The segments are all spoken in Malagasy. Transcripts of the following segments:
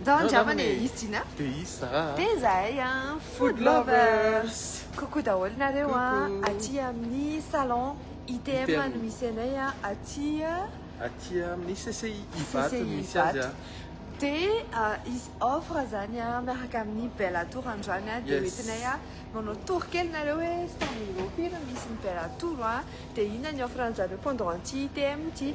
Ndao andraman e is jina Teis a Teis zahay a Food lovers Coucou daholo nareo a Aty amin'ny salon ITM no misy anay a Aty Aty amin'ny CCI Ivato no misy azy a Dia hisy offre zany a miaraka amin'ny Bella Tour androany a Dia hoentinay a manao tour kely nareo hoe stand-io aty no misy ny Bella Tour a Dia inona ny offre anjareo pendant ity ITM ity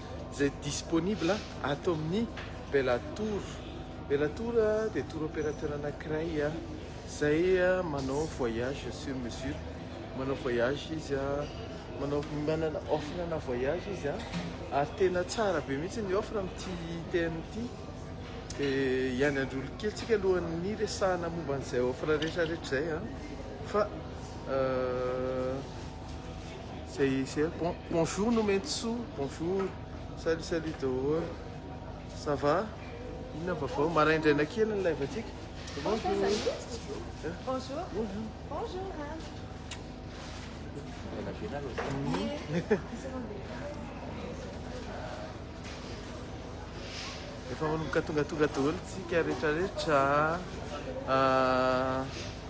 izay disponible ato amin'ny Bellator. Bellator dia tour opérateur anankiray izay manao voyage sur mesure, manao voyage izy, manao manana offre ana voyage izy ary tena tsara be mihitsy ny offre amin'ity TM ity. Dia hiandry kely tsika alohan'ny resahana momba an'izay offre rehetra rehetra izay fa. Izay izay bon bonjour Nomentosoa bonjour salut salut daholo ça va inona vaovao maraindraina kely ny live antsika bonjour bonjour bonjour bonjour efa manomboka tongatonga daholo tsika rehetrarehetra ah,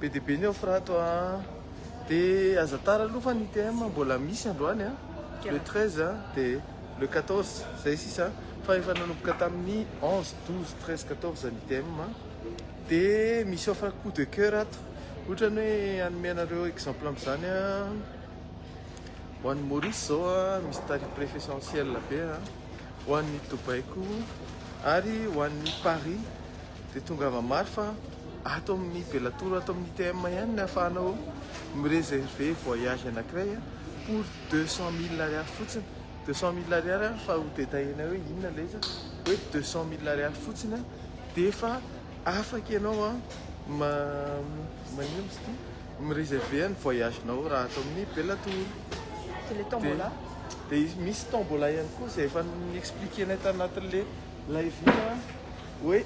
Be dia be ny offre ato a. Dia aza tara aloha fa ny ITM mbola misy androany a. Le 13 a, dia le 14, izay sisa. Fa efa nanomboka tamin'ny 11, 12, 13, 14 ny ITM a. Dia misy offre coup de coeur ato. Ohatra ny hoe hanome anareo exemple amin'izany a, ho an'ny Maurice izao a, misy tarif préféssentiel be a, ho an'ny Dubaï koa, ary ho an'ny Paris. dia tongava mafy fa ato amin'ny Bellator, ato amin'ny ITM ihany ny ahafahanao mi-réserver voyage anankiray pour 200 000 ariary fotsiny. 200 000 ariary ary fa ho détaillé-na hoe inona ilay izy hoe 200 000 ariary fotsiny dia efa afaka ianao ma manino izy ity mi-réserver ny voyage-nao raha ato amin'ny Bellator. C'est les tombola. Dia misy tombola ihany koa izay efa ni-expliquer-nay tanatin'ilay live iny. Hoe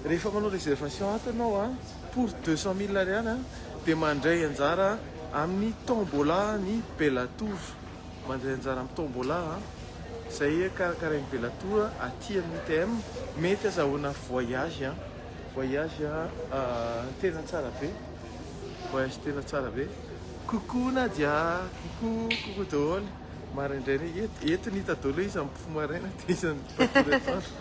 rehefa manao réservation ato ianao a pour deux cent mille ariary a dia mandray anjara amin'ny tombola ny Bellator mandray anjara amin'ny tombola a izay karakarain'ny Bellator aty amin'ny ITM mety azahoana voyage a voyage tena tsara be voyage tena tsara be coucou Nadia coucou coucou daholo maraindraina eto eto ny hita daholo hoe iza mipofo maraina dia iza mipofo atoandro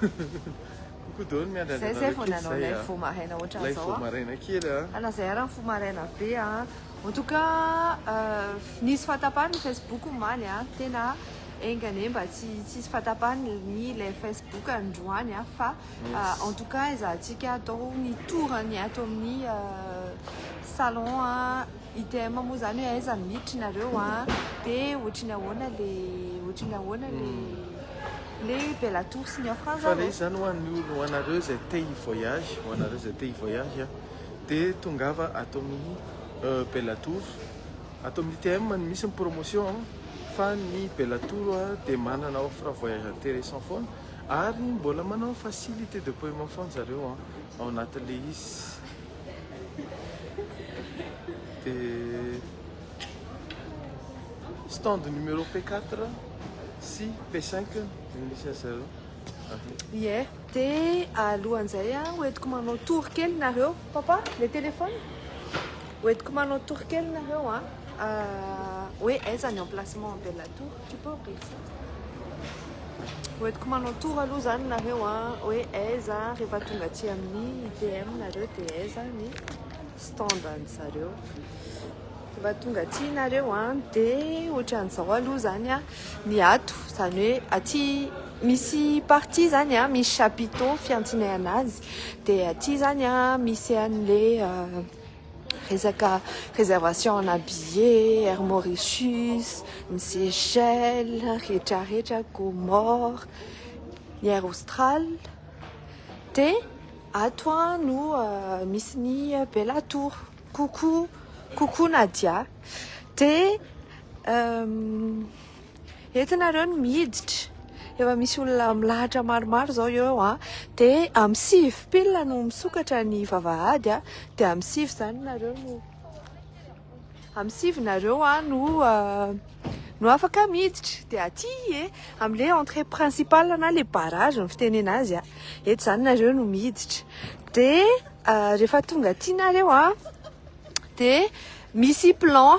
Coucou Don, miandry an'i Zay vao nanao lay fo maraina ohatran'izao. Lay fo maraina kely a. Ana zay ara ny fo maraina be a. En tout cas, euh, nisy fatapany ny Facebook omaly a. Tena enga anie mba tsy tsisy fatapany ny lay Facebook androany a. Fa euh, en tout cas ezahantsika atao ny tour-ny ato amin'ny euh, salon a. ITM moa zany hoe aiza no miditry nareo a, de ohatry ny ahoana le ohatry ny ahoana le hmm. le bella tour sy ny offrande fa le izy zany ho an'ny olo ho anareo zay te hi voyage ho anareo zay te hi voyage a de tongava ato amin'ny euh, bella tour ato amin'ny ITM no misy ny promotion fa ny bella tour a de manana offre voyage intéressant foana ary mbola manao facilité de paiement foana zareo a ao anatin'le izy dia stand numéro P4 sy P5 no misy azy zareo. Ie, dia alohan'izay a, hoentiko manao tour kely nareo. Papa, le téléphone? Hoentiko manao tour kely nareo a, hoe aiza ny emplacement Bella Tour. Hoentiko manao tour aloha izany nareo a, hoe aiza rehefa tonga aty amin'ny IPM nareo dia aiza ny stand an'zareo. Rehefa tonga aty nareo a dia ohatran'izao aloha izany a ny ato, izany hoe aty misy partie izany a misy chapiteau fiantsinay anazy dia aty izany a misy an'ilay resaka réservation ana billet air mauritius ny seychelles rehetrarehetra comore ny air austral de ato a no euh, misy ny bella tour coucou coucou nadia de euh, Eto ianareo no miditra. Efa misy olona milahatra maromaro izao eo eo an. Dia amin'ny sivy pile no misokatra ny vavahady an. Dia amin'ny sivy izany nareo no, amin'ny sivy nareo no no afaka miditra. Dia aty e, amin'ilay entrée principale na ilay barrage no fitenena azy an. Eto izany nareo no miditra. Dia rehefa tonga aty nareo an, dia misy plan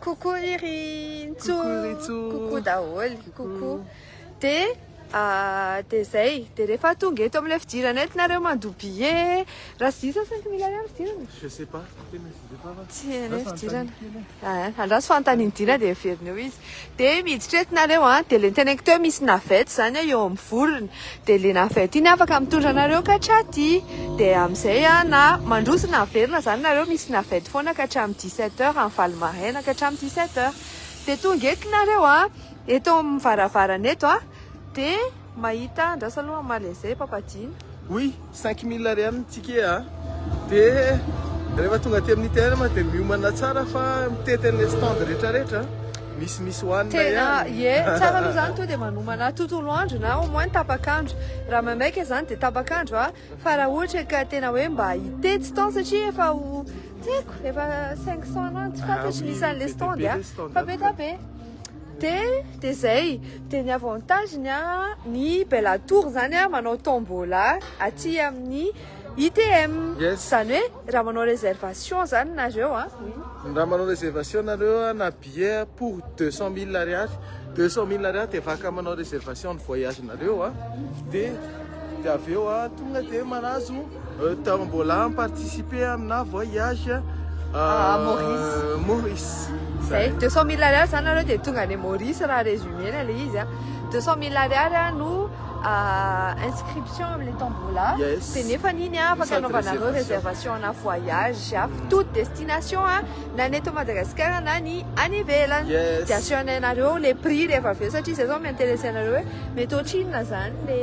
Coucou ry Ntsou. Coucou ry Ntsou. Coucou daholo. Coucou. De ah, de zay, de rehefa tonga eto amin'ilay fidirana eto nareo mandoa billet, raha sy diso aho saingy mila ihany fidirana. Je sais pas, tena sy diso aho fa. Tsy hainay fidirana. Ah, andraso fanontanian'i Dina de heveriny eo izy. Dia miditra eto nareo an, dia le teneniko teo misy navette zany an eo amin'ny vorona, dia le navette iny afaka mitondra anareo ka hatraty, dia amin'izay an na mandroso na miverina zany nareo misy navette foana ka hatramin'ny dix sept heures any valo maraina ka hatramin'ny dix sept heures, dia tonga eto nareo an, eto amin'ny varavarana eto an, dia mahita, andraso aloha mamaly an'izay ampampadiana. Oui. Cinq mille ariary ny ticket a! de rehefa tonga aty amin'ny terme de miomana tsara fa mitety an'ilay stand rehetra rehetra misy misy hohanina ihany! Tena ie! Tsara aloha zany tonga de manomana tontolo andro na au moins tapak'andro! Raha maimaika zany de tapak'andro a! Fa raha ohatra ka tena hoe mba hitety stand satria efa ho tsy haiko efa cinq cents na tsy fantatro ny isan'ilay stand a! Fa be dia be! Te te zay de ny avantage ny ny bella tour zany a manao tombola aty amin'ny ITM zany hoe raha manao reservation zany nareo a raha manao reservation nareo na billet pour deux cent mille ariary deux cent mille ariary de afaka manao reservation ny voyage nareo a de de avy eo a tonga de manazo Tao mbola mi-participer amina voyage à Maurice. Maurice. Zay, 200 mille ariary zany nareo dia tonga any Maurice raha résumé-na le izy a. 200 mille ariary a no inscription amin'ilay tombola. Yes. Dia nefany iny a afaka Sady anaovanareo réservation. réservation-na voyage à toute destination a. na ny eto Madagasikara na ny any ivelany dia assurenay anareo le prix rehefa avy eo satria izay zao mi-interesser anareo hoe mety ohatrinona zany le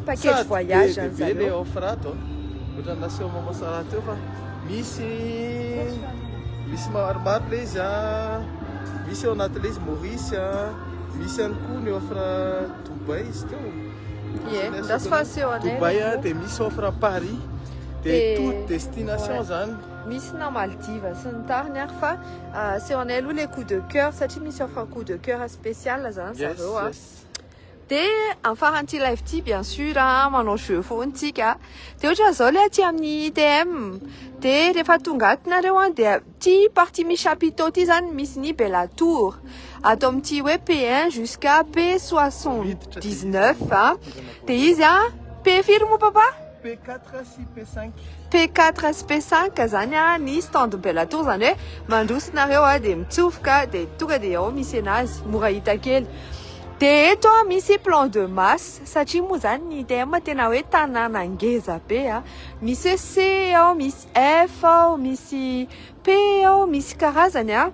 package voyage any zareo. Sady be le offre ato a, ohatran'ny nasehon'i maman Sarah teo fa misy misy maromaro le izy a, misy ao anaty le izy Maurice a, misy ihany koa ny offre Dubaï izy teo, Ie, andraso fahaseho anay le Dubaï a, dia misy offre Paris, dia toute destination zany. Misy na Maldives sy ny tariny ary fa aseo anay aloha le coup de coeur satria misy offre coup de coeur spécial zany zareo a. De am faran'ity live ity bien sur a manao jeu foana tsika de ohatra zao le aty amin'ny ITM de rehefa tonga aty nareo a de ty partie misy chapiteau ty zany misy ny Bella Tour ato amin'ity hoe P1 jusqu'à P79 a de izy a P firy moa papa? P4 sy P5. P4 sy P5 zany a, ny stand Bella Tour zany hoe mandroso nareo a, de mitsofoka de tonga de ao misy enazy, mora hita kely. De eto a misy plan de masse satria moa zany ny ITM tena hoe tanàna ngeza be a, misy hoe C ao, misy F ao, misy Paix ao misy karazany a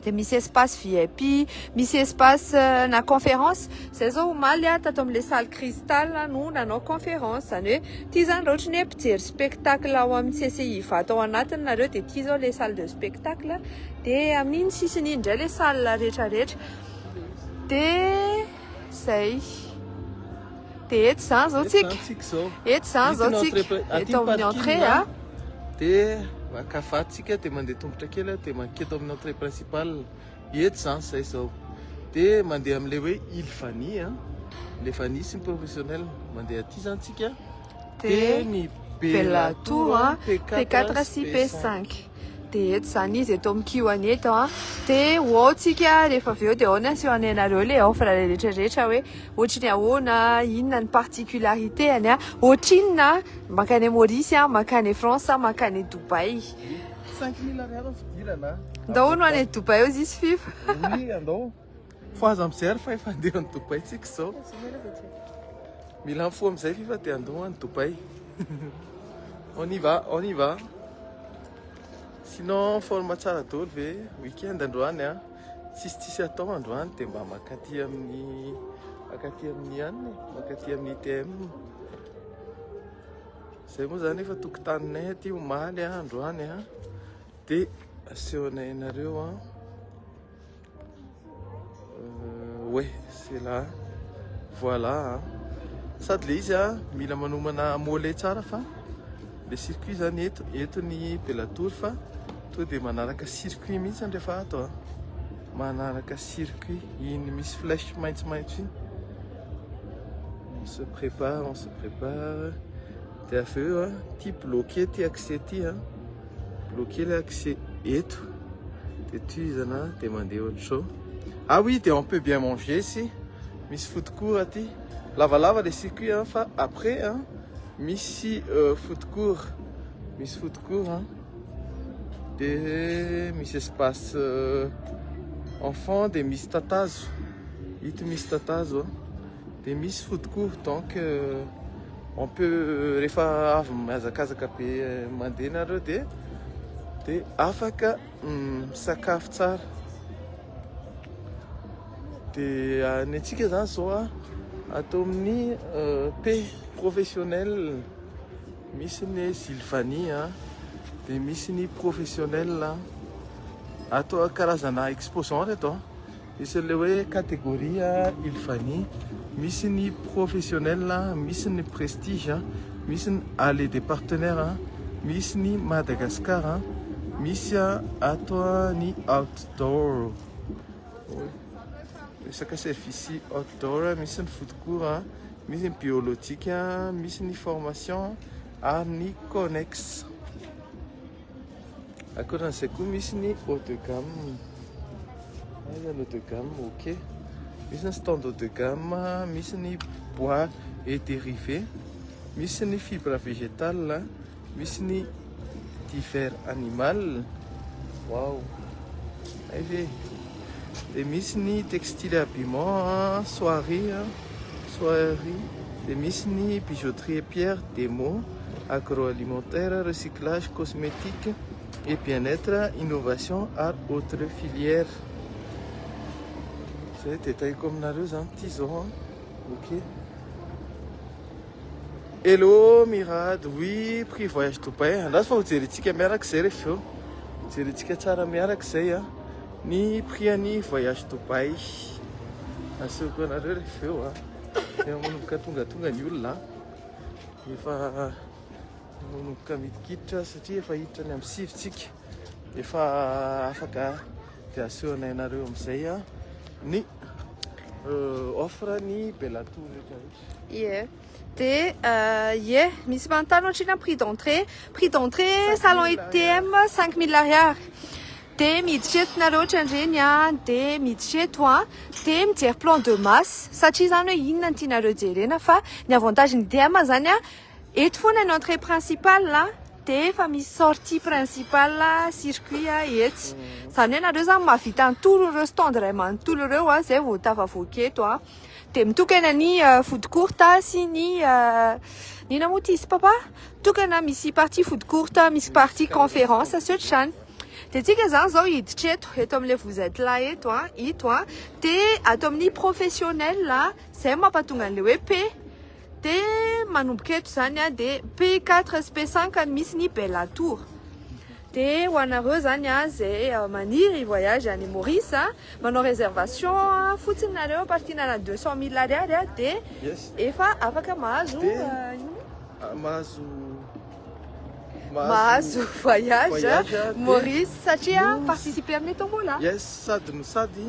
dia misy espace VIP misy espace na conférence zay zao omaly a tato amin'ilay salle cristal no nanao conférence zany hoe ity zany raha ohatry ny hoe mpijery spectacle ao amin'ny CCI Ivato ao anatiny nareo dia ity zao ilay salle de spectacle dia amin'iny sisiny iny indray ilay salle rehetra rehetra dia Zay. Dia eto izany izao tsika. Eto izany izao tsika. Eto amin'ny entrée a. Dia maka vatsika dia mandeha tongotra kely dia manketo amin'ny entrée principale. Eto izany izay izao. Dia mandeha amin'ilay hoe île Vani a. Le Vani sy ny professionnel mandeha aty izany tsika. Dia ny Bellatour, P4 sy P5. de eto zany izy eto amin'ny kiwani eto a de ho tsika rehefa avy eo de ahoana sy hoanay anareo le offre rehetra rehetra hoe ohatry ny ahoana inona ny particularité any a ohatrinona makany Maurice a makany France a makany Dubaï 5000 ariary fidirana ndao no any Dubaï eo zisy fifa oui andao Fa aza mijery fa efa andeha any Dubai tsika izao. Mila mifoha amin'izay fifa dia andoha any Dubai. On y va, on y va. Sinon forme tsara daholo ve week-end androany a. Tsisy tsisy atao androany dia mba makaty amin'ny makaty amin'ny anne, makaty amin'ny TM. Zay moa zany efa tokotaninay aty omaly androany a. Dia asehonay anareo a. Oe, c'est là. Voilà. Sady le izy a, mila manomana mole tsara fa le circuit zany eto, eto ny Bellator fa to de manaraka circuit mihitsy ny rehefa ato a. Manaraka circuit iny misy flèche maitsomaitso iny. On se prépare, on se prépare. Dia avy eo a, ity bloqué ity accès ity a, bloqué ilay accès eto, dia tohizana dia mandeha ohatr'izao. Ah oui, dia on peut bien manger ici, misy food court aty, lavalava ilay circuit a, fa après a, misy euh, food court, misy food court a, dia misy espace euh, enfant, dia misy tatazo, ito misy tatazo a, dia misy food court, donc euh, On peut rehefa avy mihazakazaka be mandeha nareo de de afaka misakafo tsara de ny antsika zany zao a atao amin'ny p professionnel misy ny hoe Sylvanie a de misy ny professionnel atao karazana exposant reto a Misy an'ilay hoe catégorie il fani, misy ny professionnel, misy ny prestige, misy ny allée des partenaires, misy ny Madagascar, misy ato ny outdoor, resaka service outdoor, misy ny food court, misy ny biologique, misy ny formation ary ny connexe. Akoran'izay koa misy ny haut de gamme. Hay zany haut de gamme, ok. Misy ny stand haut de gamme, misy ny bois et dérivé, misy ny fibre végétale, misy ny divers animal. Waouh. Hay ve. dia misy ny textile habillement, soierie, soierie, dia misy ny bijouterie pierre, demo, agroalimentaire, recyclage, cosmétique et bien-être, innovation ary autre filière. Zay détail-ko aminareo zany ity zao an. Ok. Hello Mirad, oui prix voyage Dubaï, andraso fa ho jerentsika miaraka izay rehefa avy eo, jerentsika tsara miaraka izay a, ny prix an'ny voyage Dubaï, asehoko anareo rehefa avy eo a, efa manomboka tongatonga ny olona a, efa manomboka midikiditra satria efa hiditra ny amin'ny sivy tsika, efa afaka dia asehonay anareo amin'izay a, ny offre ny Bellatour rehetra rehetra. Ie. De ie, misy manontany ohatrina prix d'entrée, prix d'entrée salon ITM 5000 ariary. De miditra eto nareo ohatran'ireny a, de miditra eto a, de mijery plan de masse satria izany hoe inona no tianareo jerena fa ny avantage ny ITM izany a eto foana ny entrée principale a de efa misy sortie principale a circuit a etsy. Izany hoe nareo izany mahavita ny tour ireo stand iray manontolo ireo a izay vao tafavoaka eto a. dia mitokana ny euh, food court sy ny euh, ny moa ty sy papa tokana misy partie food court misy partie conférence sy ohatr'izany dia tsika zany zao hiditra eto eto amin'ilay vous êtes là eto a ito a dia ato amin'ny professionnel zay mampatonga an'ilay hoe p De manomboka eto zany a de p quatre sy p cinq no misy ny bella tour de ho anareo zany a ze maniry i voyage any maurice a manao reservation fotsiny nareo partie nana deux cent mille ariary a de efa afaka mahazo mahazo mahazo voyage Maurice satria participer amin'ny tombola. Yes, sady no sady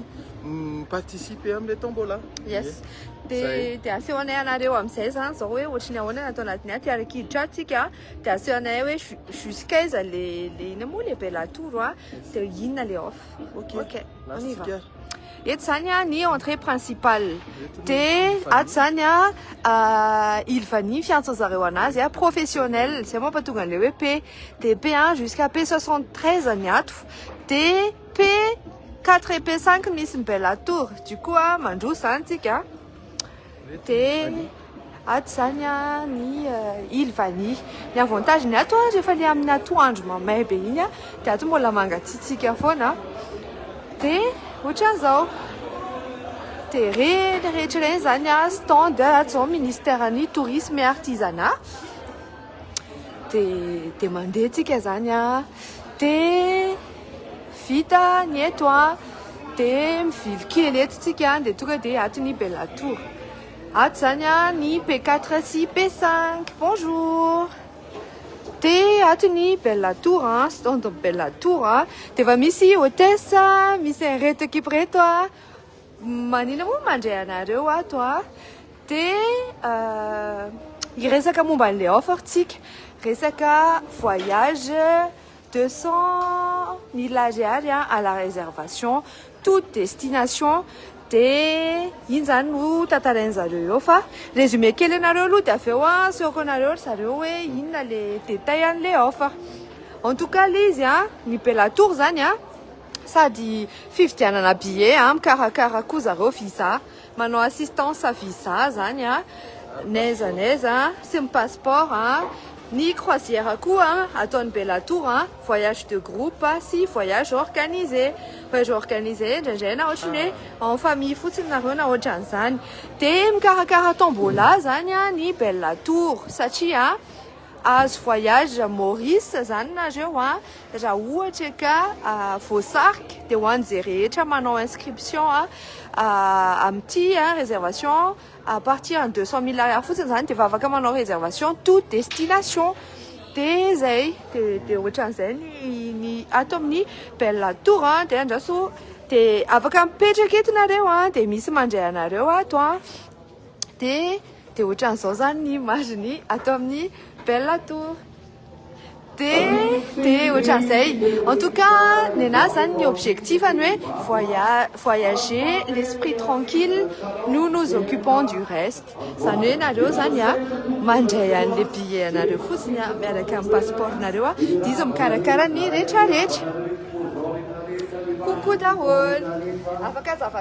participer amin'ny tombola. Yes. Dia dia aseho anay anareo amin'izay izany izao hoe ohatry ny ahoana natao anadiny aty ary kiditra tsika dia aseho anay hoe jusqu'aiza le le ina moa le bella tour a dia inona le off. Ok. Ok. On y va. Eto izany an ny entrée principale dia ato izany an île vanille fiantson zareo anazy an professionnel izay mampatonga an'ilay hoe P dia P un jusqu'à P soixante treize ny ato dia P quatre et P cinq misy ny bella tour du coup an mandroso izany tsika. Dia ato izany ny île vanille. Ny avantage-ny ato rehefa ilay amin'ny atoandro mamay be iny dia ato mbola mangatsiatsiaka foana. Dia ohatran'izao. Dia ireny rehetra ireny izany stand ato izao Ministeran'ny Tourisme et Artisanat. Dia dia mandeha antsika izany dia. Vita ny eto a! de mivily kely eto tsika de tonga de ato ny bella tour ato zany a ny p quatre sy p cinq bonjour de ato ny bella tour a stand bella tour a de efa misy hotesse a misy an reto ekipa reto a manina moa mandray anareo ato a de hiresaka momba anle offre tsika resaka voyage Deux cent mille ariary à la réservation toute destination dia iny zany no tantarainy zareo eo fa résumé kely anareo aloha dia avy eo asehoko anareo ry zareo hoe inona le détail an'ilay offre en tout cas le izy an ny bella tour zany an sady fividianana billet an mikarakara koa zareo visa Manao assistance visa zany a, n'aiza n'aiza a, sy ny passeport a, ny croisière koa ataon'ny Bellator a, voyage de groupe sy voyage organisé, voyage organisé indraindray na ohatry ny hoe en famille fotsiny nareo na ohatran'izany, de mikarakara tombola zany a ny Bellator satria Azo voyage Maurice zany nareo a! Ra ohatra ka voasarika de ho an ze rehetra manao inscription amty reservation à partir ny deux cent mille ariary fotsiny zany de vavaka manao reservation to destination de zay de de otranzay ny ato aminy belle tour de andraso de afaka mipetraka eto nareo a de misy mandray anareo ato a! dia dia ohatran'izao zany ny image ny ato amin'ny Bella Tour dia dia ohatran'izay en tout cas ny anah zany ny objectif ny hoe voya voyager l'esprit tranquille nous nous occupons du reste zany hoe nareo zany a mandray an'le billet anareo fotsiny a miaraka amin'ny passeport nareo a dia izy mikarakara ny rehetra rehetra coucou daholo afaka azava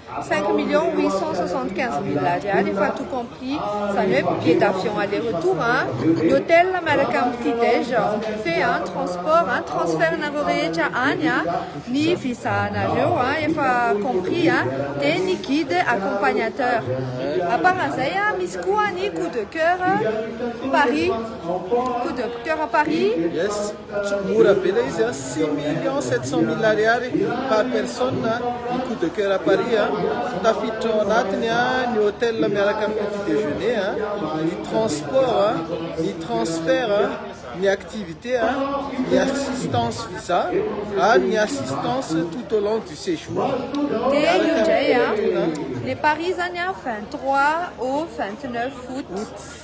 Cinq millions huit cent soixante quinze mille ariary efa tout compris izany hoe billet d'avion aller retour an, ny hotel miaraka amin'ny petit dej en buffet an, transport an, transfert nareo rehetra any an, ny visa nareo an efa compris an, dia ny guide accompagnateur. À part an'izay an misy koa ny coup de coeur Paris, coup de coeur Paris. Tsy mora be ilay izy a, six millions sept cent mille ariary par personne ny coup de coeur à Paris a, tafiditra ao anatiny a, ny hotel miaraka amin'ny petit déjeuner a, ny transport a, ny transfert a, ny activité a, ny assistance visa ary ny assistance tout au long du séjour miaraka amin'ny toetra. Le Paris zany a vingt trois au vingt neuf aout.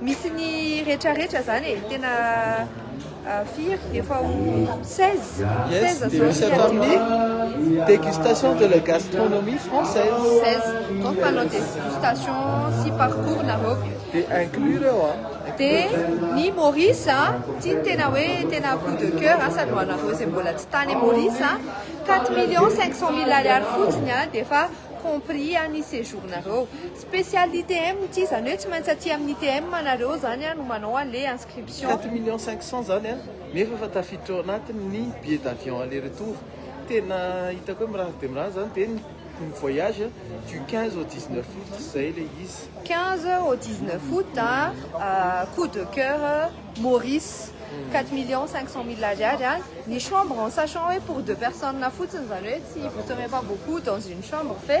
Misy ny retraretra zany e, tena firy efa ho 16 16 zao ny fiadiana. Dégustation de la gastronomie française. 16 donc manao dégustation sy parcours nareo. De inclure eo a. De ny Maurice a, ty ny tena hoe tena coup de coeur a, sady ho anareo zay mbola tsy tany Maurice a, 4 millions 500 mille ariary fotsiny a, de efa compris ny séjour nareo. Special ITM ity izany hoe tsy maintsy aty amin'ny ITM anareo izany no manao an'le inscription. Quatre millions cinq cents izany an, nefa efa tafiditra ao anatiny ny billet d'avion aller retour. Tena hitako hoe mirary dia mirary izany dia ny ny voyage du quinze au dix neuf aout, izay ilay izy. Quinze au dix neuf aout an, coup de coeur Maurice, quatre millions cinq cents mille ariary an, ny chambre en sachant hoe pour deux personnes fotsiny izany hoe tsy vous serez pas beaucoup dans une chambre fe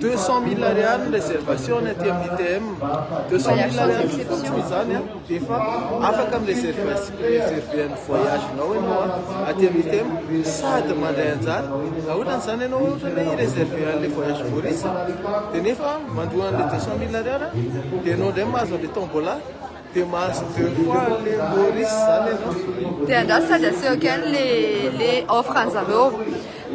Deux cent mille ariary ny réservation ny aty amin'ny ITM, deux cent mille ariary fotsiny izany an, dia efa afaka mi-réserver ny voyage-nao ianao an, aty amin'ny ITM, sady mandray anjara, raha ohatra an'izany ianao ohatra ny hoe hi-réserver an'ilay voyage Maurice, dia nefa mandoa an'ilay deux cent mille ariary an, dia ianao indray mahazo an'ilay tombola. Dia mahazo deux fois an'le Maurice zany ianao. Dia angaha tsy sady aseho kely le le offre an'zareo.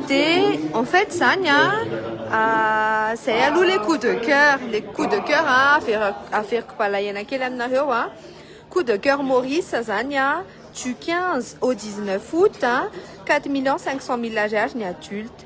Dia en fait zany a, zay aloha le coup de coeur, le coup de coeur avera- averiko balahaina kely aminareo a, coup de coeur Maurice zany a, du quinze au dix neuf aout, quatre millions cinq cent mille ariary ny adulte.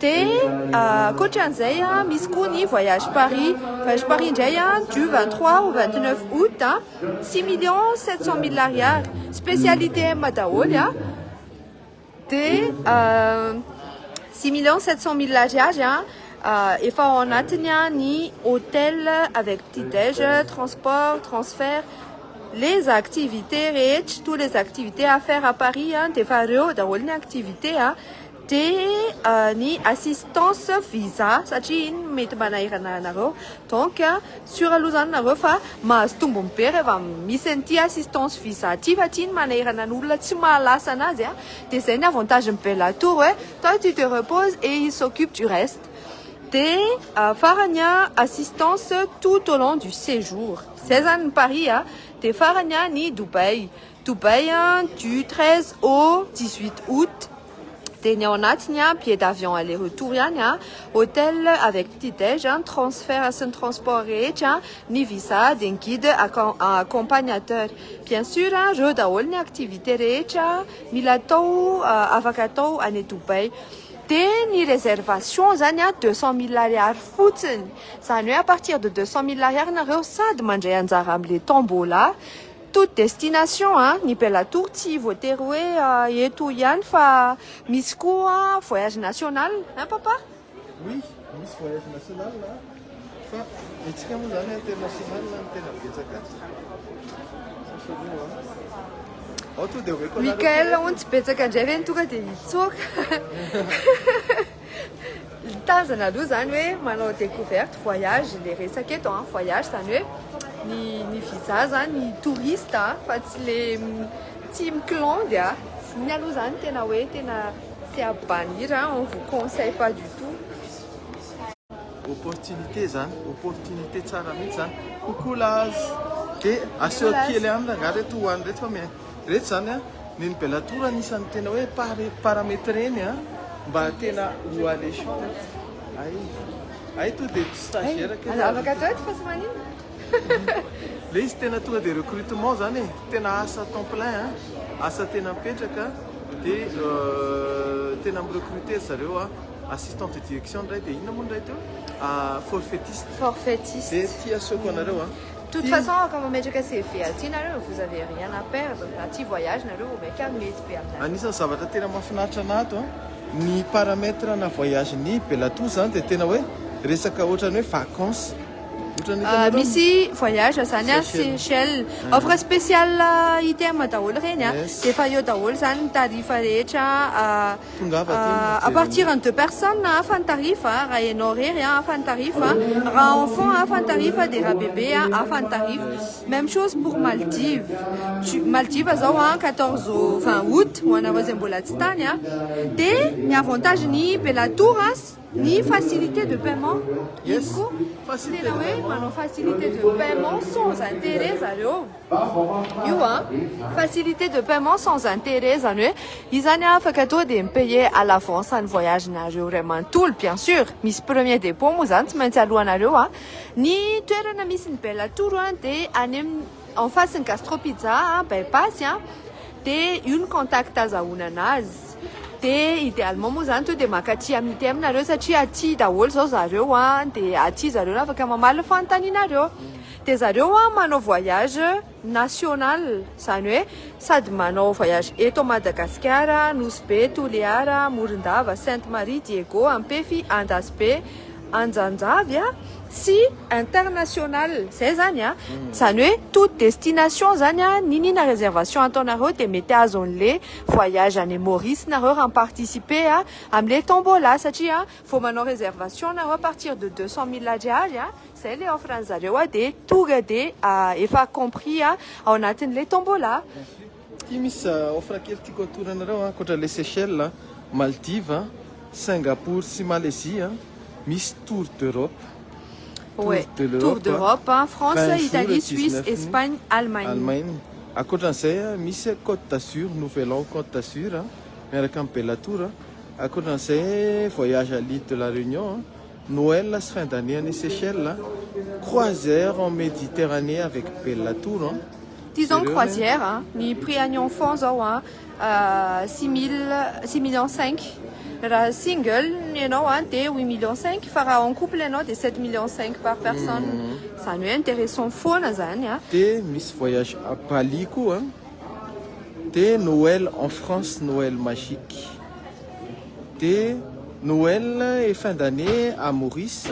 Dia ankoatra an'izay, misy koa ny voyage Paris. Voyage Paris indray du vingt trois au vingt neuf aout, six millions sept cent mille ariary. Spécial ITM daholo. Dia six millions sept cent mille ariary, efa ao anatiny ny hôtel avec petit déj, transport, transfert, les activités rehetra, tous les activités à faire à Paris dia efa ireo daholo ny activités. dia ny assistance visa satria iny no mety manahirana anareo donc sur aloha izany nareo fa mahazo tombony be rehefa misy an'ity assistance visa ity fa ity no manahirana ny olona tsy maha lasa an'azy a dia izay ny avantage ny bella tour hoe toi tu te repose et il s'occupe du reste dia farany a assistance tout au long du séjour izay izany ny paris a dia farany a ny Dubaï Dubaï du treize au dix huit août dia ny ao anatiny an, billet d'avion aller retour ihany an, hotel avec petit dej an, transfert sy ny transport rehetra, ny visa dia ny guide accompagnateur. Bien sur an, reo daholo ny activité rehetra mila atao afaka atao any Dubaï. Dia ny réservation zany an, deux cent mille ariary fotsiny, zany hoe à partir de deux cent mille ariary nareo sady mandray anjara amle tombola Toute destination a, ny Bella Tour tsy voatery hoe eto ihany fa misy koa voyage national hein papa? Oui, misy voyage national a, fa ny antsika moa zany international no tena betsaka aty satria moa a, ao tonga dia omeko anareo. Michael hono tsy betsaka indray ve ny tonga dia hitsoaka? Mitazana aloha izany hoe manao découverte voyage ilay resaka eto an, voyage izany hoe ny ny visa izany ny touriste fa tsy le tsy mikilandy a. Iny aloha izany tena hoe tena tsy abbanir a, on vous conseille pas du tout. Opportunité izany, opportunité tsara mihitsy izany. Coucou Laz! Dia aseho kely aminy angaha ireto ho an'ireto fa. Retsy izany an, ny ny bella tour anisan'ny tena hoe pare parametreny an, mba tena ho alléchant retsy. Hay hay to dia tsy stagiaire kely aza. Afaka atao eto fa tsy maninona. Le izy tena tonga dia recrutement izany e, tena asa temps plein an, asa tena mipetraka dia tena mi recruter ry zareo an, assistant de direction indray dia inona moa indray teo? forfaitiste. Forfaitiste. Dia ity asehoko anareo an. Toute façon efa mametraka CV aty nareo, vous avez rien à perdre, aty voyage nareo vao maika mety be aminareo. Anisan'ny zavatra tena mahafinaritra anah ato an, ny paramètre ana voyage ny Bellator zany dia tena hoe resaka ohatran'ny hoe vacances. Ohatran'ny hitanareo ny. Misy voyage zany an Seychelles, offre spéciale ITM daholo ireny an, dia efa eo daholo zany ny tarif rehetra. à partir en deux personnes hafa ny tarif a, raha ianao irery a hafa ny tarif a, raha enfant hafa ny tarif a, dia raha bebe a hafa ny tarif, même chose pour Maldives, tu Maldives zao a quatorze au vingt aout ho anareo zay mbola tsy tany a, dia ny avantage ny Bellatour a, Ny facilité de paiement iny koa tsy tena hoe manao facilité de paiement sans intérêt zareo io a! Facilité de paiement sans intérêt zany hoe izany a afaka tonga dia mi-payer à l'avance ny voyage-nareo iray manontolo bien sur misy premier dépôt moa zany tsy maintsy alohanareo a! Ny toerana misy ny bella tour dia any amin'ny. en face ny gastro pizza a bypass a de io ny contact azahoana anazy de idealement moa zany to de maka aty am ITM nareo satria aty daholo zao zareo a de aty zareo no afaka mamaly ny fanontanianareo de zareo a manao voyage national zany hoe sady manao voyage eto Madagasikara Nosy Be Toliara Morondava Sainte Marie Diego Ampefy Andasibe anjanjavy sy international zay zany a zany hoe toute destination zany a niniana réservation ataonareo de mety azo anle voyage any Maurice nareo raha mi-participer a amle tombola satria vao manao réservation nareo à partir de deux cent mille ariary a zay le offre anzareo a de tonga de efa compris a ao anatinle tombola Ity misy offre kely tiako atoro anareo ankoatra ilay Seychelles, Maldives, Singapour sy Malaisie misy tour d'Europe. Oe, tour d'Europe, France, Italie, Suisse, Espagne, Allemagne. Ankoatran'izay misy Côte d'Azur, Nouvel An Côte d'Azur miaraka amin'ny Bella Tour. Ankoatran'izay voyage à l'île de la Réunion. Noël sy fin d'année any Seychelles, croisière en Méditerranée avec Bella Tour an. Ty zao ny croisière a, ny prix any enfants zao a six mille, six millions cinq, raha single ianao a dia huit millions cinq fa raha en couple ianao dia sept millions cinq par personne, zany hoe intéressant foana zany a. Dia misy voyage à Bali koa, dia Noël en France, Noël magique. Dia Noël et fin d'année à Maurice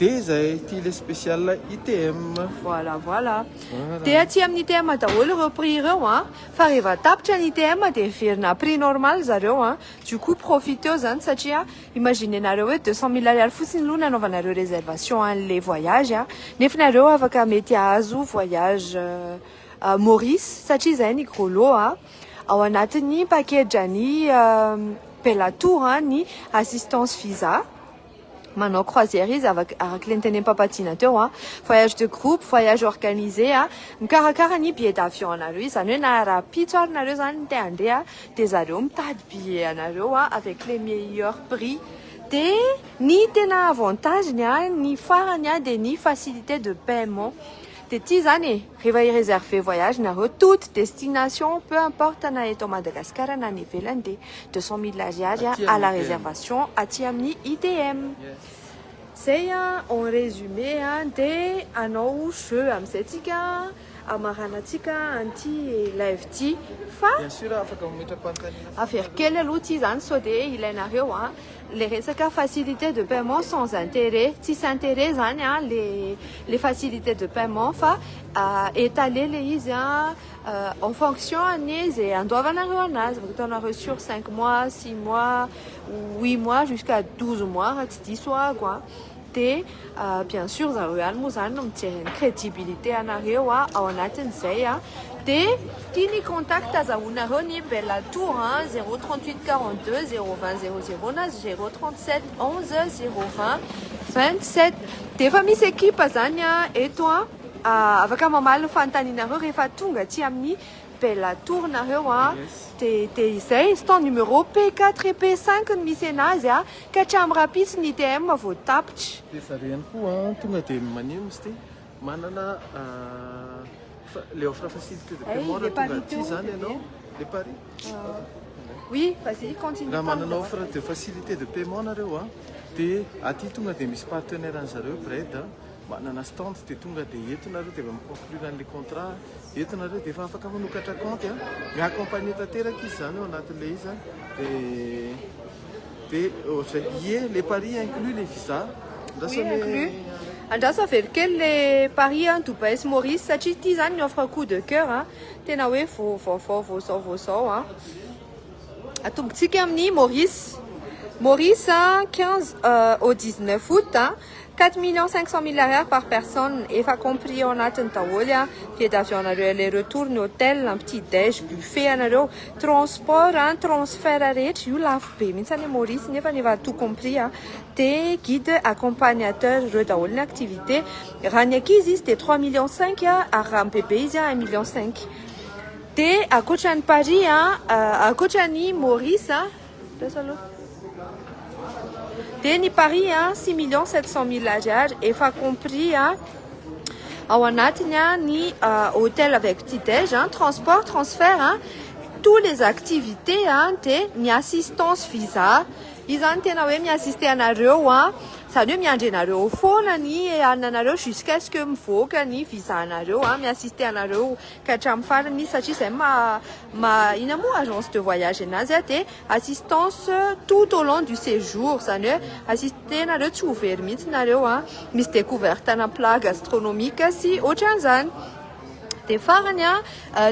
dia izay ity le spécial ITM. Voilà voilà. Dia aty amin'ny ITM daholo ireo prix ireo an. Fa rehefa tapitra ny ITM dia miverina à prix normal zareo an. Du coup profiteo izany satria imaginenareo hoe deux cent mille ariary fotsiny aloha nanaovanareo réservation an'ilay voyage an. Nefa nareo afaka mety hahazo voyage à Maurice satria izay ny gros lot an. Ao anatin'ny pakedrany Bellator ny assistance visa. Manao croisière izy araka ilay notenem-pampatsiana teo. Voyage de groupe, voyage organisé. Mikarakara ny billet d'avion anareo izy. Izany hoe na rahampitso ary nareo izany no te handeha dia zareo mitady billet anareo avec les meilleurs prix. Dia ny tena avantage-ny, ny farany dia ny facilité de paiement. Dia tia izany e! Rehefa hi-reserver voyage nareo, toute destination, peu importe na eto Madagascar na any ivelany dia deux cent mille ariary à la réservation aty amin'ny ITM. Zay en résumé dia hanao jeu amin'izay tsika hamaranantsika an'ity live ity fa avero kely aloha ity izany sao dia ilainareo a! le resaka facilité de paiement sans intérêt tsisy intérêt zany an le le facilité de paiement fa étalé le izy an en fonction an'ny ze andoavanareo anazy afaka ataonareo sur cinq mois six mois huit mois jusqu'à douze mois raha tsy diso aho an dia bien sur zareo ihany moa zany no mijery ny crédibilité anareo ao anatin'izay dia ity ny contact azahoanareo ny Bella Tour zéro trente huit quarante deux zéro vingt zéro zéro na zéro trente sept onze zéro vingt vingt sept dia efa misy ekipa zany eto afaka mamaly ny fanontanianareo rehefa tonga aty amin'ny Bella Tour nareo dia dia izay stande numéro P quatre et P cinq no misy anazy. Ka hatramin'ny rahampitso ny ITM vao tapitra. Efa re ihany koa an, tonga dia maneho ny site manana le offre facilité de paiement raha tonga aty izany ianao, le pari? Oui, vas-y, continue, parle. Raha manana offre de facilité de paiement nareo an, dia aty tonga dia misy partenaire an'ny zareo Bread an, manana stand dia tonga dia eto nareo dia efa mi conclure an'le contrat, eto nareo dia efa afaka manokatra kaonty an, mi accompagner tanteraka izy izany ao anatin'le izy an, dia. Be ohatray. Ie le paris inclus le visa? Andraso Oui, anie inclus. Andraso avelo kely le paris an, Dubaï sy Maurice satria ity zany ny offre coup de coeur an, tena hoe vo vaovao vo zao vo zao an. Atombontsika amin'ny Maurice. Maurice an, 15 au 19 aout an, Quatre millions cinq cent mille ariary par personne efa compris ao anatiny daholo an, billet d'avion anareo aller retour ny hotel an, petit dej, buffet anareo, transport an, transfert rehetra, io lafo be mihitsy anie Maurice nefa ny efa tout compris an, de guide accompagnateur ireo daholo ny activité, raha ny ankizy izy de trois millions cinq an, ary raha ny bebe izy an un million cinq, de akoatra ny paris an, akoatra ny Maurice an, Dia ny paris a six millions sept cent mille ariary efa compris a ao anatiny a ny hotel avec petit déj a transport transfert a tous les activités a dia ny assistance visa izany tena hoe mi-assister anareo a izany hoe miandry anareo eo foana ny hanina anareo jusqu'à ce que mivoaka ny visa anareo a mi-assister anareo ka hatramin'ny farany satria izay maha inona moa agence de voyage anazy dia assistance tout au long du séjour izany hoe assister nareo tsy ho very mihitsy nareo an! misy découverte ana plat gastronomique sy ohatran'izany dia farany an!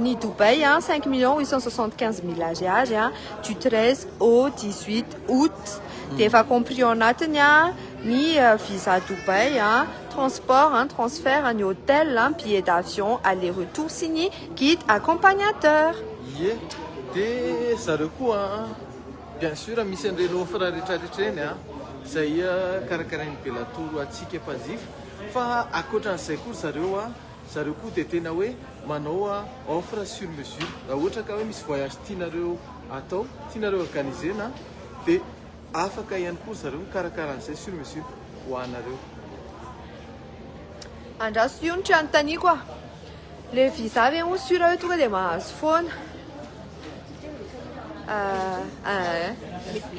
ny Dubaï an! cinq millions huit cent soixante quinze mille ariary an! du treize au dix huit aout dia efa compris ao anatiny an! ny visa Dubaï an! transport, an, transfert, ny hôtel, an, billet d'avion aller retour sy ny guide accompagnateur. Ie, de zareo koa an, bien sur misy an'ireny offre retraretra ireny an, izay karakarain'ny Belatour antsika mpanjifa, fa ankoatran'izay koa ry zareo an, zareo koa dia tena hoe manao an offre sur mesure, raha ohatra ka hoe misy voyage tianareo atao, tianareo organiser-na dia. Afaka ihany koa ry zareo mikarakara an'izay sur mesure ho anareo. Andraso io ny tsy anontaniako a! Le visa ve hono sur hoe tonga dia mahazo foana? Ah, ah.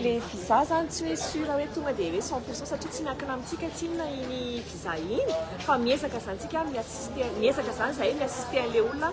Le visa zany tsy hoe sur hoe tonga dia hoe cent pourcent satria tsy miankina amintsika tsinona iny visa iny fa miezaka zany tsika mi-assister miezaka zany zahay mi-assister an'le olona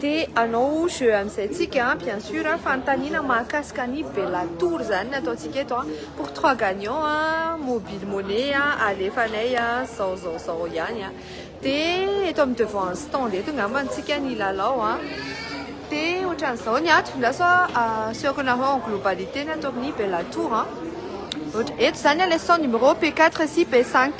Te hanao jeu amin'izay tsika bien sur a, fanontaniana mahakasika an'i Bella Tour zany ny ataontsika eto a, pour trois gagnants a, mobile money a, alefanay a, zao zao zao ihany a. De eto amin'ny devant ny stand eto ngamba no tsika ny hilalao a. De ohatran'izao ny ato, lasa asehoko anareo en globalité ny ato amin'ny Bella Tour a. Ohatra eto zany a le stand numéro P quatre sy P cinq.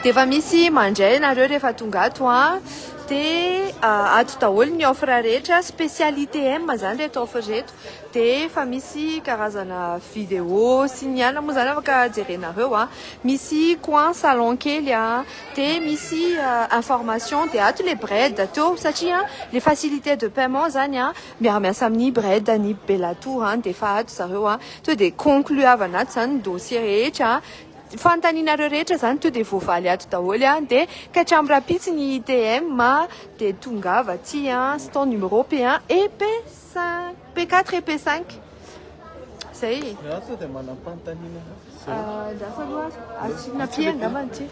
De efa misy mandray anareo rehefa tonga ato a, Dia ato daholo ny offre rehetra, spécial ITM izany ireto offre ireto. Dia efa misy karazana vidéo sy ny anona moa izany afaka jerenareo. Misy coin salon kely dia misy information dia ato ilay bred teo satria ilay facilité de paiement izany miara miasa amin'ny bred ny Bellatour dia efa ato zareo. Tonga dia concluavana ato izany ny dossier rehetra. Fanontanianareo rehetra zany to de voavaly ato daholo an! de katramo rapitsy ny ITM a! de tongava aty an! ston numéro P1 et P5 P4 et P5 zay e! Za sao dia manam-panontaniana Andraso aloha asiana P angambany ity.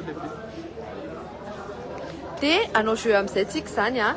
Dia hanao jeu amin'izay tsika izany an!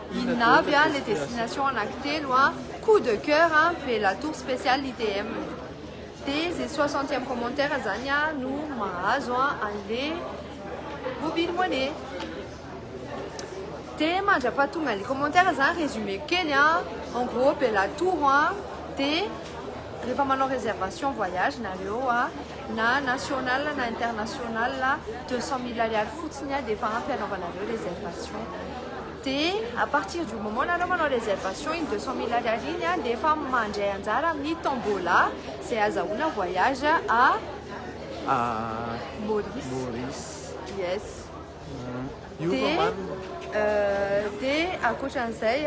Inona avy a le destination anaky telo a, coup de coeur a, ve la tour speciale ITM. De ze soixantième commentaire zany a no mahazo a anle mobile money. De mandrapaha tonga le commentaire zany résumé-ko kely a, en gros be la tour a, de refa manao réservation voyage nareo a, na national na international deux cent mille ariary fotsiny dia efa ampy anaovanareo réservation dia à partir du moment nanaovanao réservation iny deux cent mille ariary iny dia efa mandray anjara amin'ny tombola izay azahoana voyage à à Maurice Maurice yes Dia ankoatran'izay,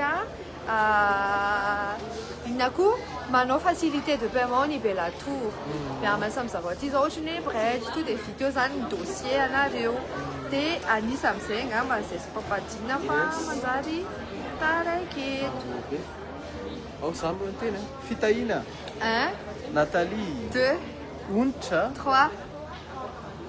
inona koa, manao facilité de paiement ny Bellator. Mihamana samy zavao aty izao ohatry ny hoe bridge tonga dia vita eo izany ny dossier anareo. Dia an'isa amin'izay angamba izay tsy ampampahadiana fa manjary taraiky eto. Ao izaho aloha ny teny a! Fitahiana! Un. Nathalie. Deux. Onitra. Trois.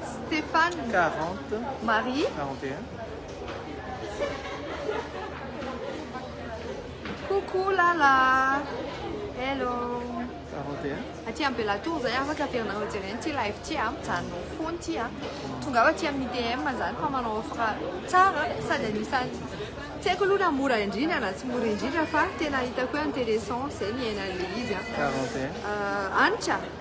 Stéphane, quarante, Marie, quarante et un, coucou Lala, hello, quarante et un, aty Ambelatoro zay afaka averinareo jereny ity live ity a, mijanona ao foana ity a, tongava aty amin'ny ITM zany fa manao offre tsara sady anisan'ny tsy haiko aloha na mora indrindra na tsy mora indrindra fa tena hitako hoe intéressant zay ny iainan'ilay izy a, quarante et un, euh, Hanitra,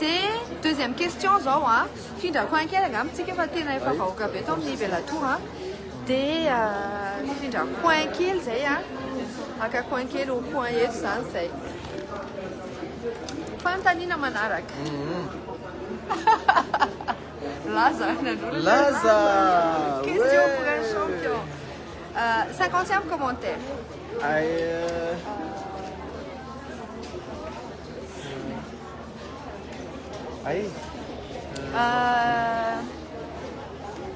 De deuxième question zao a, fifindrako any kely angamba tsika fa tena efa vahoaka be eto amin'ny Ivelatoa a, de fifindra coin kely zay a, haka coin kely ho coin eto zany zay. Fanontaniana manaraka. Laza nanolotra. Laza. Question pour un champion. Cinquantième commentaire. Ay.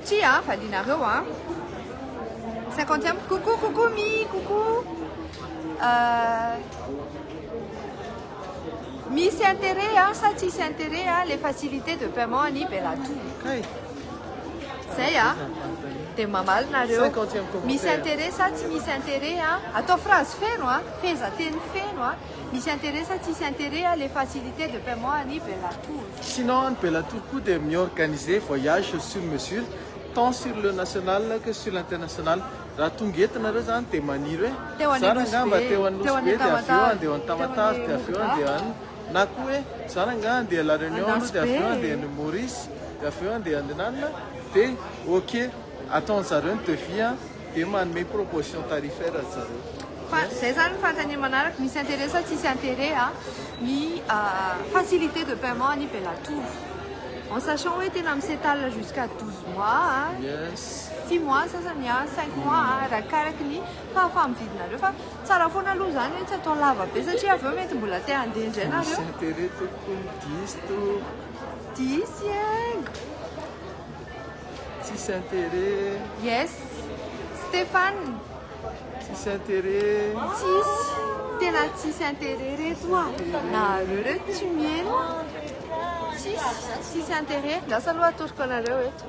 Tsia a, valianareo a. Cinquantième, coucou, coucou Mi, coucou. Euh, misy intérêt hein, sa tsisy intérêt hein, les facilités de paiement any Bellatour. Hey. Zay hein. Dia mamaly nareo. Misy intérêt sa tsy misy intérêt hein. Atao phrase feno hein. Fehezanteny feno hein. Misy intérêt sa tsisy intérêt a le facilité de paiement any Bellatour? Sinon any Bellatour koa dia mi-organiser voyage sur mesure tant sur le national que sur l'international. Raha tonga eto nareo zany dia maniry hoe Teo any zany angaha mba teo Anosy Be dia avy eo andeha ao any Tamatave dia avy eo andeha any na koa hoe zany angaha andeha La Réunion aloha dia avy eo andeha any Maurice dia avy eo andeha any nanina dia ok ataon'zareo ny devis a. Dia manome proposition tarifaire ry zareo. Fa zay zany ny fanontaniana manaraka, misy intérêt sa tsisy intérêt a ny facilité de paiement any Belatovo? En sachant hoe tena mi s'étale jusqu'à douze mois a, six mois sasany a, cinq mois a, arakaraky ny fahafaha-mividinareo fa tsara foana aloha zany hoe tsy atao lava be satria avy eo mety mbola te handeha indray nareo. Misy intérêt tompoko, diso to. Diso iango. Tsisy intérêt. Yes. Stéphane. Tsisy intérêt. Tsisy. Tena tsisy intérêt reto a. Nahareo reto tsy mieno. Tsisy. Tsisy intérêt. Lasa aloha atoroko anareo eto.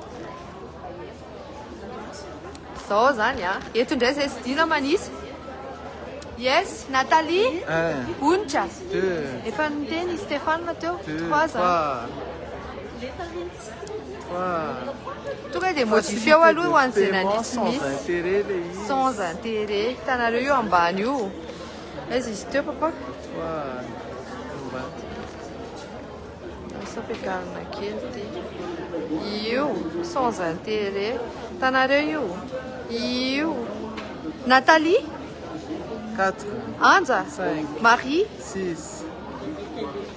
Zao zany a. Eto indray zay sidina manisa. Yes, Nathalie. Un. Onitra. Deux. Efa niteny Stéphane teo. Deux. Trois. Trois. Tonga dia modifieo aloha ho an'ny journaliste miss sans intérêt hitanareo io ambany io aiza izy teo papa sao fiakarina kely ty io sans intérêt hitanareo io io Nathalie Anja Marie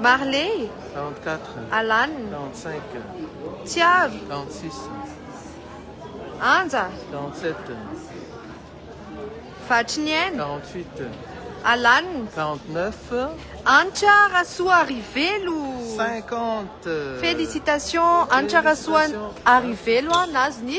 Marley, Alan, Tsiaro, Anja, Vatriniaina, Alan, Anitra Rasoarivelo, Félicitations Anitra Rasoarivelo nahazo ny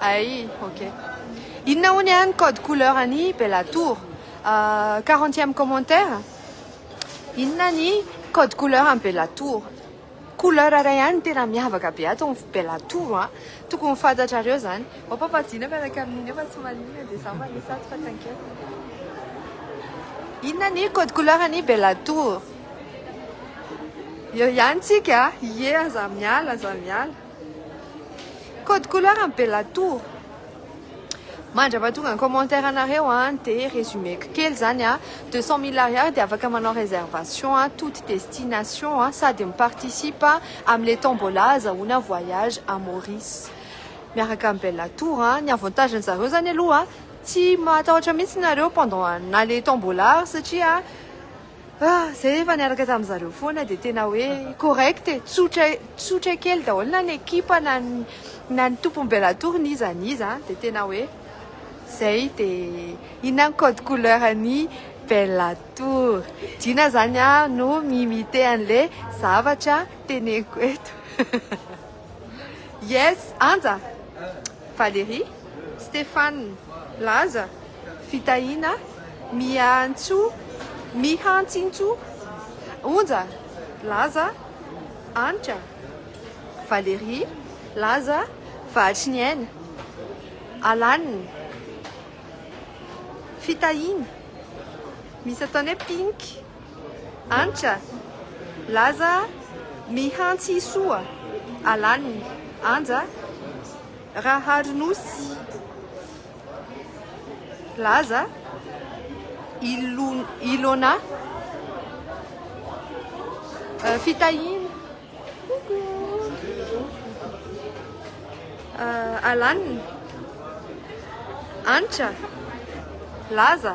Ay ok. Inona hono iany ny code couleur an'i Bella Tour? Euh, quarantième commentaire? Inona ny code couleur an'i Bella Tour? Couleur iray ihany no tena miavaka be ato amin'ny Bella Tour an! Tokony fantatrareo zany. Mampampadina miaraka amin'iny aho fa tsy maninona dia za manisy ato fa tsankeviko. Inona ny code couleur an'i Bella Tour? Eo ihany tsika a! Ie aza miala, aza miala. Code couleur am Bella Tour. Mandra fa tonga ny commentaire anareo an de résumeko kely zany an, deux cent mille ariary de afaka manao réservation an toute destination an sady mi participe am le tombola azahoana voyage à Maurice miaraka am Bella Tour an, ny avantage ny zareo zany aloha tsy matahotra mihitsy nareo pendant na le tombola ary satria. Ah, zay efa niaraka tamin'ny zareo foana dia tena hoe correct e, tsotra tsotra kely daholo na ny ekipa na ny na ny tompony Bellator n'iza n'iza an, dia tena hoe zay dia inona ny code couleur an'i Bellator, Dina zany aho no mi-imiter an'le zavatra teneniko eto. Yes Anja, Valerie, Stephane, Laza, Fitahiana, Miantso, Mihantsintso, Onja, Laza, Anitra, Valerie, Laza, Vahatry ny aina, Alan, Fitahiana, misy ataony hoe Pink, Antitra, laza mihantsy soa alan'ny anja rahary nosy laza Ilona fitahiana coucou alan'ny Antitra, laza.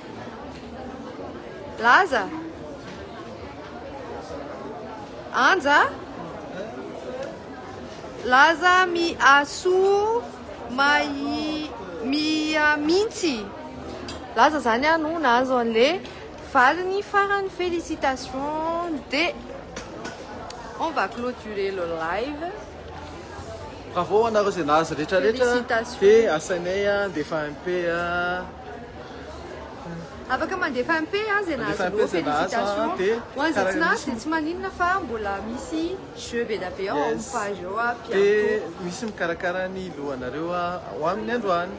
Laza. Anja. Laza mi asu mai mia mintsy. Laza zany ah no nahazo an'le valiny farany félicitations de on va clôturer le live. Bravo anareo zay nahazo retraretra de asainay a ndefa MP a. Afaka mandefa MP aza ianao Zalo, félicitations, ho an'izay tsy nahazo dia tsy maninona fa mbola misy jeux be dia be ao amin'ny page ao à bientôt. Dia misy mikarakara ny lohanareo ho amin'ny androany.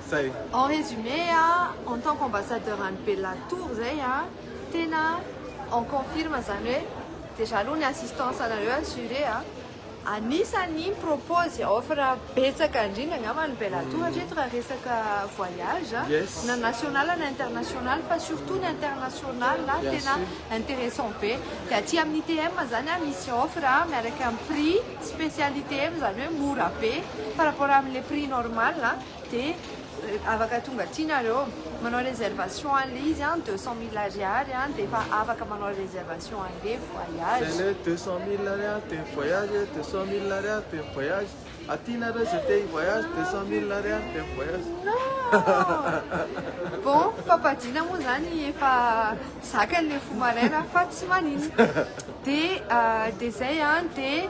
Zay. En résumé a, en tant qu'ambassadeur an'i Bella Tour zay a, tena on confirme zany hoe déjà aloha ny assistance anareo assurée a, Anisany mi-propose offre betsaka indrindra angamba ny Bellatour mhm. hatreto raha resaka voyage na national na international fa surtout ny international tena intéressant be de aty amin'ny TM zany a misy offre miaraka amin'ny prix spécialité zany hoe mora be par rapport amin'le prix normal Dia afaka tonga aty nareo manao reservation anle izy an deux cent mille ariary an dia efa afaka manao reservation anle voyage. Zay le deux cent mille ariary dia mivoyage e deux cent mille ariary dia mivoyage aty nareo zay te hivoyage deux cent mille ariary dia mivoyage. Non bon fampadiana moa zany efa zakany le fo maraina fa tsy maninona dia dia zay an dia.